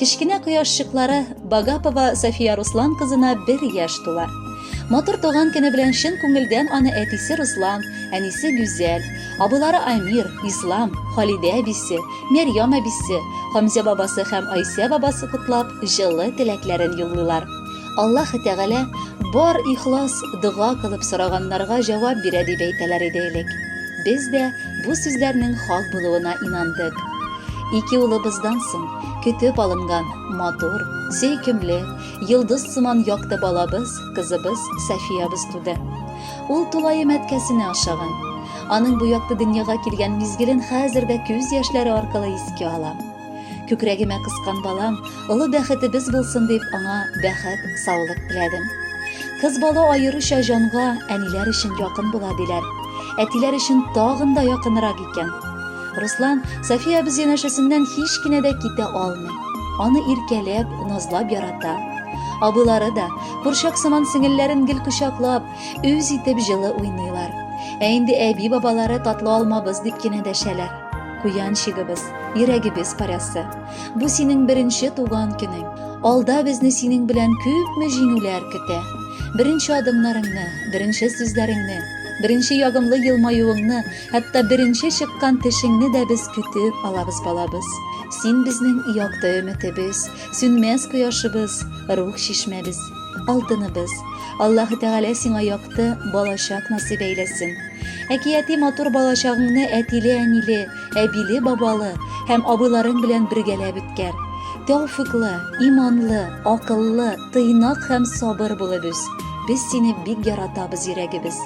Кечкенә кояшчыклары Багапова София Руслан кызына бер яшь тула. Матур туган көне белән чын күңелдән аны әтисе Руслан, әнисе Гүзәл, абылары Амир, Ислам, Халидә әбисе, Мәрьям әбисе, Хамзя бабасы һәм Айсә бабасы котлап, җылы теләкләрен юллыйлар. Аллаһы Тәгалә бар ихлас дога кылып сораганнарга җавап бирә дип әйтәләр иде элек. Без дә бу сүзләрнең хак булуына инандык. Ике улыбыздан соң көтеп алынган матур, сөйкемле, йолдыз сыман якты балабыз, кызыбыз Сафиябыз туды. Ул тулаем әткәсенә ошаган. Аның бу якты дөньяга килгән мизгелен хәзер дә күз яшьләре аркылы искә алам. Күкрәгемә кыскан балам, олы бәхетебез булсын дип, аңа бәхет, саулык теләдем. Кыз бала аеруча җанга әниләр өчен якын була диләр. Әтиләр өчен тагын да якынрак икән. Руслан София без янәшәсеннән һич кенә дә китә алмый. Аны иркәләп, назлап ярата. Абылары да, курчак сыман сеңелләрен гел кочаклап, үз итеп җылы уйныйлар. Ә инде әби-бабалары татлы алмабыз дип кенә дәшәләр. Куян чигебез, йөрәгебез парәсе. Бу синең беренче туган көнең. Алда безне синең белән күпме җиңүләр көтә. Беренче адымнарыңны, беренче сүзләреңне, беренче ягымлы елмаюыңны, хәтта беренче чыккан тешеңне дә без көтеп алабыз, балабыз. Син безнең якты өметебез, сүнмәс кояшыбыз, рух чишмәбез, алтыныбыз. Аллаһы Тәгалә сиңа якты балачак насыйп әйләсен. Әкияти матур балачагыңны әтиле-әниле, әбиле-бабалы һәм абыйларың белән бергәләп үткәр. Тәүфыклы, иманлы, акыллы, тыйнак һәм сабыр булып үс. Без сине бик яратабыз йөрәгебез.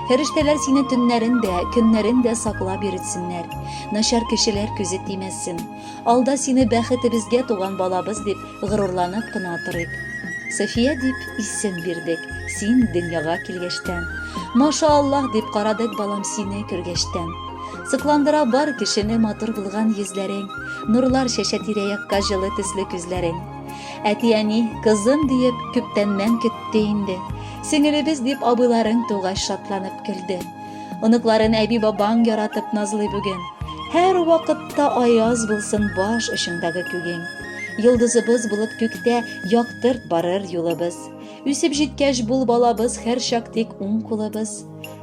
Фәрештәләр сине төннәрен дә, көннәрен дә саклап йөртсеннәр. Начар кешеләр күзе тимәсен. Алда сине бәхетебезгә туган балабыз дип горурланып кына торыйк. София дип исем бирдек, син дөньяга килгәчтән. Маша Аллаһ дип карадык балам сине күргәчтән. Сыкландыра бар кешене матур булган йөзләрең, нурлар чәчә тирә-якка җылы төсле күзләрең. Әти-әни, кызым диеп, күптәннән көтте инде. Сеңелебез дип абыйларың тугач шатланып көлде. Оныкларын әби-бабаң яратып назлый бүген. Һәр вакытта аяз булсын баш очындагы күгең. Йолдызыбыз булып күктә яктырт барыр юлыбыз. Үсеп җиткәч бул балабыз һәр чак тик уң кулыбыз.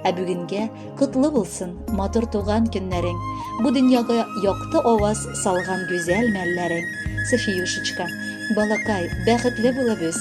Ә бүгенгә котлы булсын матур туган көннәрең. Бу дөньяга якты аваз салган гүзәл мәлләрең. Софиюшечка, балакай, бәхетле булып үс.